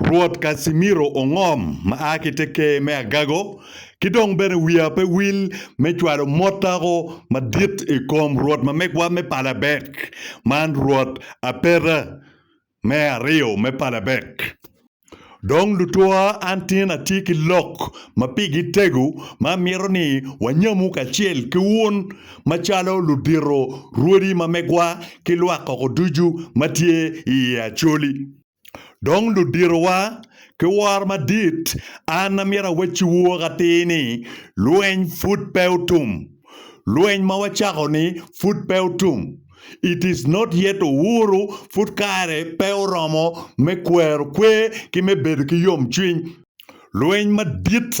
Rwot Casimiro ongom ma a ki te Ker me agago, ki dong bene wiya pe wil me cwalo mot tako madit i kom Rwot mamegwa me Palabek, man Rwot Apeta me aryo me Palabek. Dong lutwa, an tin atye ki lok ma pigi tego ma amito ni wanyamu kacel ki wun macalo ludito rwodi mamegwa ki lwak koko ducu ma tye i i Acholi. Dong luditowa ki woro madit, an amyero awacciwu woko atir ni lweny pud pe otum. Lweny ma wacako-ni pud pe otum. It is not yet over, pud kare pe oromo me kwero kwer ki me bedo ki yomcwiny. Lweny madit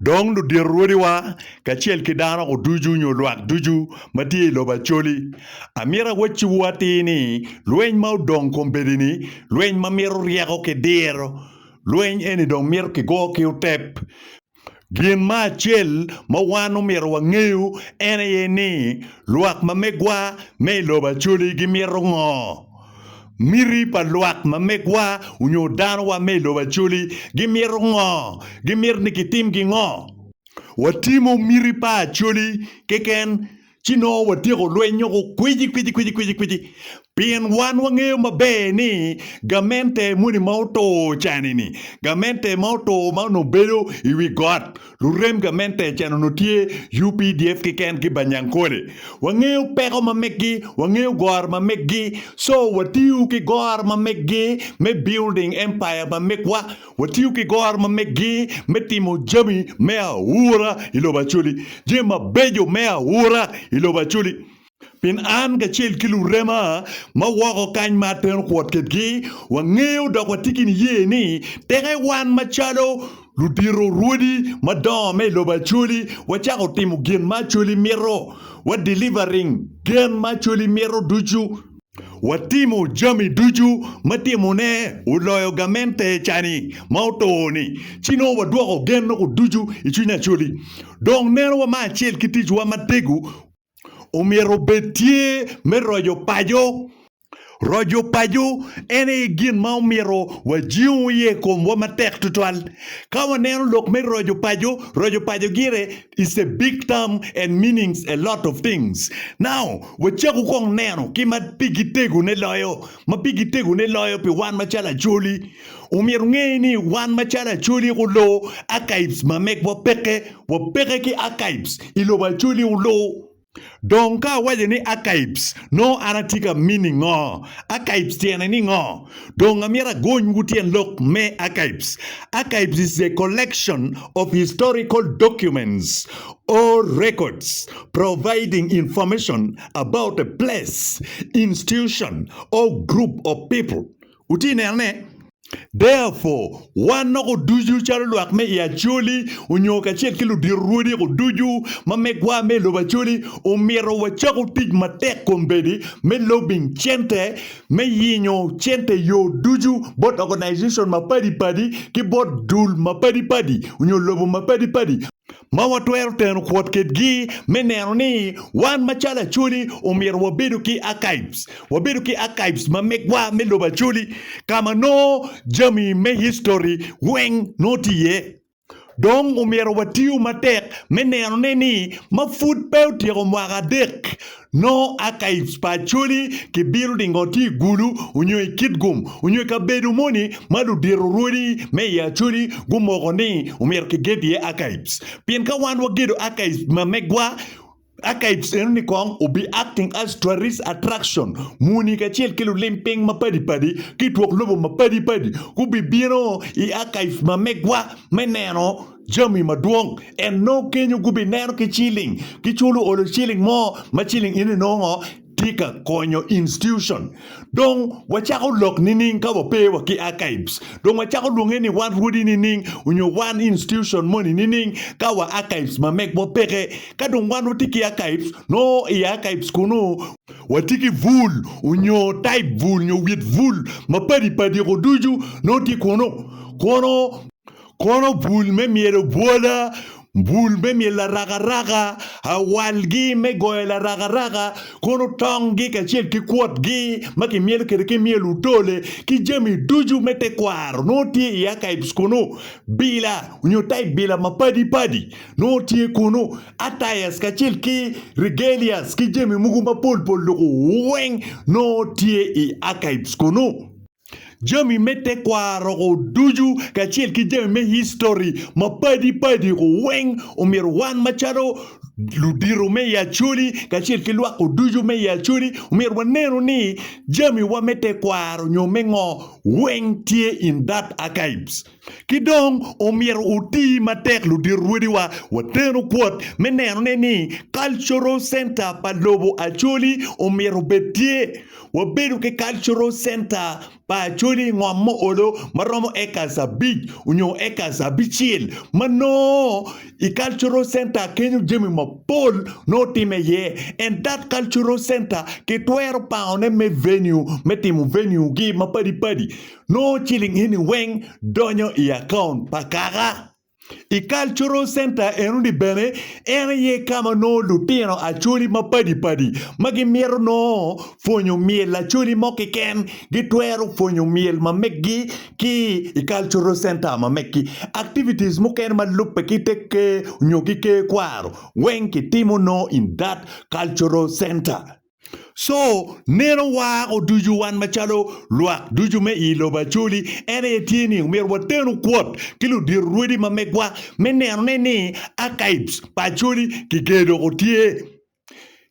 Dong ludito rwodiwa, kacel ki dano-gu ducu nyo lwak ducu ma tye i lobo Acholi, amito awacciwu atir ni, lweny ma odong kombeddi-ni, lweny ma mito ryeko ki diro, lweny eni dong mito kigo ki otep. Gin ma acel ma wan omyero wangeyu en aye ni, lwak ma megwa me i lobo Acholi gimito ngo? Miti pa lwak ma megwa onyo danowa me i lobo Acholi gimito ngo? Gimito ni kitim gi ngo? Watimo miti pa Acholi keken ci nongo watyeko lweny nyo ku kwici kwici kwici kwici kwici pien wan wangeyo maber ni gamente moni ma otur cani ni gamente ma otur ma onongo bedo i wi got Lurem gamente i can onongo tye updf keken ki Banyankole. Wangeyo peko ma meggi, wangeyo goro ma meggi, so watiyo ki goro ma meggi me building empire ma megwa, watiyo ki goro ma meggi me timo jami me aura i lobo Acholi, jami mabeco me aura i lobo Acholi. Pien an kacel ki lurema ma woko kany ma atero kwot kedgi, wangeyo dok watye ki niye ni teke wan macalo ludito rwodi madongo me i lobo Acholi wacako timo gin ma Acholi mito, wa delivering gen ma Acholi mito ducu. Watimo jami ducu ma timone oloyo gamente cani ma otur ni, ci nongo wadwoko gen noko ducu i cwiny Acholi. Dong neno wamar acel ki ticwa matego. omyero obed tye me roco paco. Roco paco en aye gin ma omyero wajingu iye i komwa matek tutwal. Ka waneno lok me roco paco, roco paco gire is a big term and meanings a lot of things. Now, wacaku kong neno ki ma pigi tegone loyo. ma pigi tegone loyo pi wan macalo Acholi. Omyero onge ni wan macalo Acholi guloo archives ma megwa peke, wapeke ki archives i lobo Acholi oloo. Dong ka awaco ni archives, nongo an atye ka meaning ngo? Archives tyene ni ngo? Dong amyero agony wu tyen lok me archives. Archives is a collection of historical documents or records providing information about a place, institution, or group of people. Wutye ka nenone? Therefore, wan noko ducu calo lwak me i Acholi onyo kacel ki ludito rwodiko ducu ma megwa me i lobo Acholi omito wacaku tic matek kombeddi me lobbying cente me yenyo cente i yo ducu bot organization mapadi padi ki bot dul mapadi padi onyo lobo mapadi padi ma watwero teno kwot kedgi me neno ni wan macalo Acholi omyero wabedo ki archives, wabedo ki archives ma megwa me lobo Acholi ka ma nongo jami me history weng nongo tye iye. Dong omyero watiyo matek me nenone ni ma pud pe otyeko mwaka adek Nongo archives pa Acholi ki building ngo tye i Gulu onyo i Kitgum onyo i kabedo moni ma ludito rwodi me i Acholi gumoko ni omyero ki ged iye archives. Pien ka wan wa gedo archives ma megwa, archives eno ni kong will be acting as tourist attraction muni kacel ki lulim piny ma padi padi ki twok lobo ma padi padi gubi bino i archives ma megwa me neno Jami madwong en nongo kenyo gubineno ki ciling ki culo olo ciling mo ma ciling eni nongo tye ka konyo institution dong wacako lok nining ka wape wa ki archives dong wacako lwonge ni wan rwodi nining onyo wan institution moni nining ka wa archives ma megwa peke ka dong wan watye ki archives nongo i archives kunu watye ki bul onyo type bul nyo wit bul mapadi padi ko ducu nongo tye kunu kono kono bul me myelo bwola, bul me myelo arakaraka, awalgi me goyo larakaraka, kono tonggi kacel ki kwotgi ma kimyelo kwede ki myel otole, ki jami ducu me tekwaro nongo tye i archives kunu. Bila nyo type bila mapadi padi nongo tye kunu. Attires kacel ki regalias ki jami mogo mapol pol loko weng nongo tye i archives kunu. Jami me tekwaro ko ducu kacel ki jami me histori mapadi padi ko weng omyero wan macalo ludito me i Acholi kacel ki lwak ko ducu me i Acholi omyero wanenu ni jamiwa me tekwaro nyo me ngo weng tye in that archives. Ki dong, omyero oti matek ludito rwediwa wateno kwot me nenone ni Cultural Center pa lobo Acholi omyero obed tye. Wabedo ki Cultural Center pa Acholi i ngom ma olo ma romo acres abic onyo acres abicel ma nongo i Cultural Center kenyo jami mapol nongo time iye and that Cultural Center kitwero pangone me venue me timo venue gi mapadi padi Nongo ciling eni weng donyo i akaont pa kaka. I Cultural Center enoni bene, en aye ka ma nongo lutino Acholi mapadi padi ma gimito nongo pwonyo myel Acholi mo keken gitwero pwonyo myel ma meggi ki i Cultural Center ma meggi. Activities mukene ma lubbe ki te Ker nyo ki Ker Kwaro weng kitimo nongo in that Cultural Center. Co neno war oducu wan macalo lwak ducu me i lobo Acholi en aye tye ni omyero watenu kwot ki ludito rwodi ma megwa me neno ne ni archives pa Acholi kiger doko tye.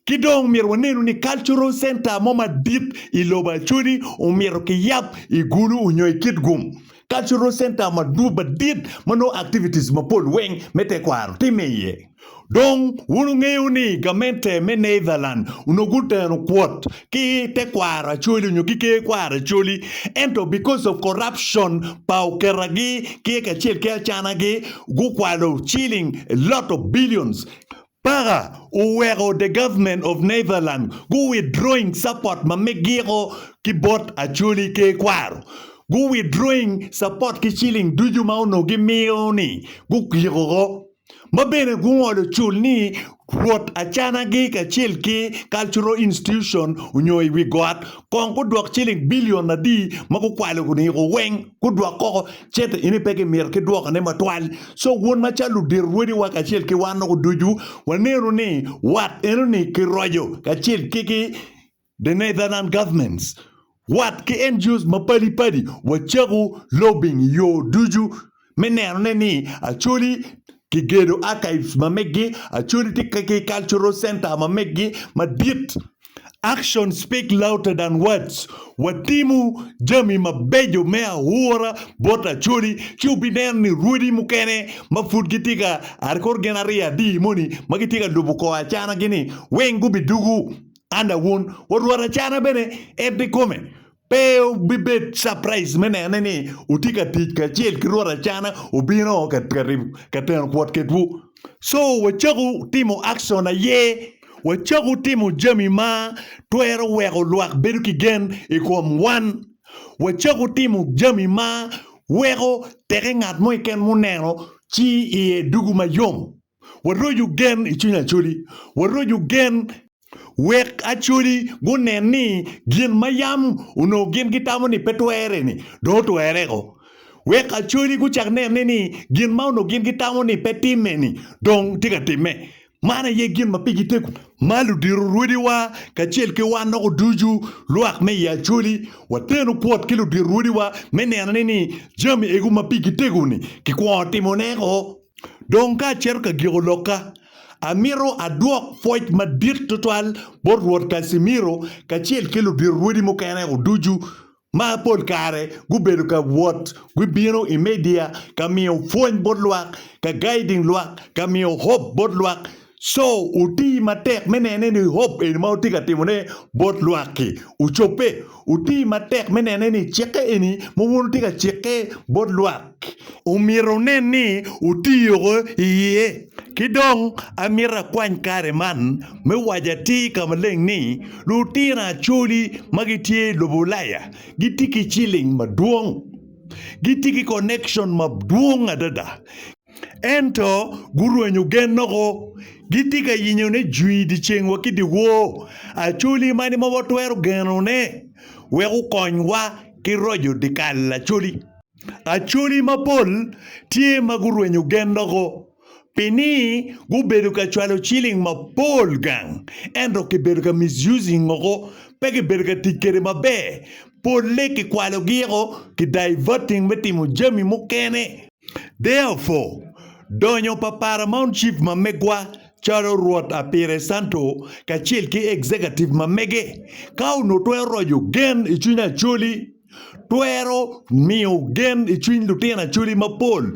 Ki dong myero wanenu ni cultural center mo madit i lobo Acholi omyero kiyab i Gulu onyo i Kitgum. Cultural center madit ma nongo activities mapol weng me tekwaro time iye. Dong wun wungeyo ni gamente me Netherland onongo guteno kwot ki tekwaro Acholi nyo ki ker kwaro Acholi ento because of corruption pa okera gi ki kacel ki Acana gi gukwalo shilling a lot of billions paka oweko the government of Netherland gu withdrawing support ma me giko ki bot Acholi ker kwaro gu withdrawing support ki shilling ducu ma onongo gimiyo ni gu giko go. ma bene gungolo cul ni wot acanagi kacel ki Cultural Institution onyo i wi got kong gudwok ciling billion adi ma gukwalo guniko weng gudwok koko cente eni pe kimito ki dwoko ne matwal so wun macalo ludito rwodi wa kacel ki wan noko ducu waneno ni wat enoni kiroco kacel ki ki The Netherlands governments, wat ki NGOs mapadi padi wacako lobbying i yo ducu me neno ne ni Acholi ki gedo archives ma meggi, Acholi tye ki cultural center ma meggi madit. Actions speak louder than words, watimo jami mabejo me aura bot Acholi ci wubineno ni rwodi mukene ma pud gitye ka are kor gin aryo adi moni ma gitye ka lubo kor acanagi ni weng gubidugu. An awun, wa Rwot Acana bene ebbi kome. Pe wubibed capraiced me nene ni wutye ka tic kacel ki Rwot Acana obino ka teno pwotketwu. Co, wacako timo action aye wacako timo jami ma twero weko lwak bedo ki gen i kom wan. Wacako timo jami ma weko teke ngat mo keken muneno ci iye dugu mayom. Waroco gen i cwiny Acoli. Waroco gen. Wek Acoli gunen ni gin ma yam onongo gin gitamo ni pe twere-ni dong otwereko. Wek Acoli gucak nene ni gin ma onongo gin gitamo ni pe timme-ni dong tye ka timme. Man aye gin ma pigi tego. Ma ludito rwodiwa kacel ki wan loko ducu lwak me i Acoli, wateno kwot ki ludito rwodiwa me nenone ni jami egu ma pigi tego-ni kikwongo timone-ko. Dong ka acito ka giko lokka, amito adwok pwoc madit tutwal bot Rwot Casimiro kacel ki ludirorwodi mukene oducu ma pol kare gubedo ka wot gibino i media ka miyo pwony bot lwak, ka gaiding lwak, ka miyo hope bot lwak. Co oti matek me nene ni hop eni ma wutye ka timone bot lwak-ki ocobbe. Wuti matek me nene ni cikke eni ma wun wutye ka cikke bot lwak omyero wunen ni wutiyo iye. Ki dong amito akwany kare man me waco atir ka maleng ni, lutino Acholi ma gitye i lobo Ulaya gitye ki ciling madwong. Gitye ki connection madwong adada. Ento gurwenyo gennoko, gitye ka yenyo ni jwi i dyeceng wa ki dyewor, Acholi mani ma watwero geno ne wek okony wa ki roco dyekal Acholi? Acholi mapol tye ma gurwenyo gennoko pi ni gubedo ka cwalo ciling mapol gang ento ki bedo ka misusing oko pe ki bedo ka tic kwede maber, pole ki kwalo gi oko ki diverting me timo jami mukene. Therefore, donyo pa Paramount Chief ma megwa calo Rwot Apire Santo kacel ki Executive ma mege, ka onongo twero roco gen i cwiny Acholi, twero miyo gen i cwiny lutino Acholi mapol,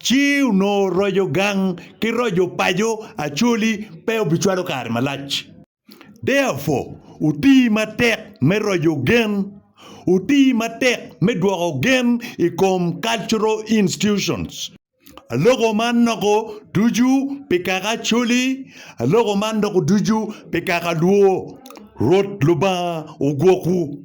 ci onongo roco gang ki roco paco Acholi pe obicwalo kare malac. Therefore, wuti matek me roco gen. Wuti matek me dwoko gen i kom cultural institutions. Aloko man noko ducu pi kaka Acholi, aloko man noko ducu pi kaka Luo. Rwot Lubanga ogwokwu.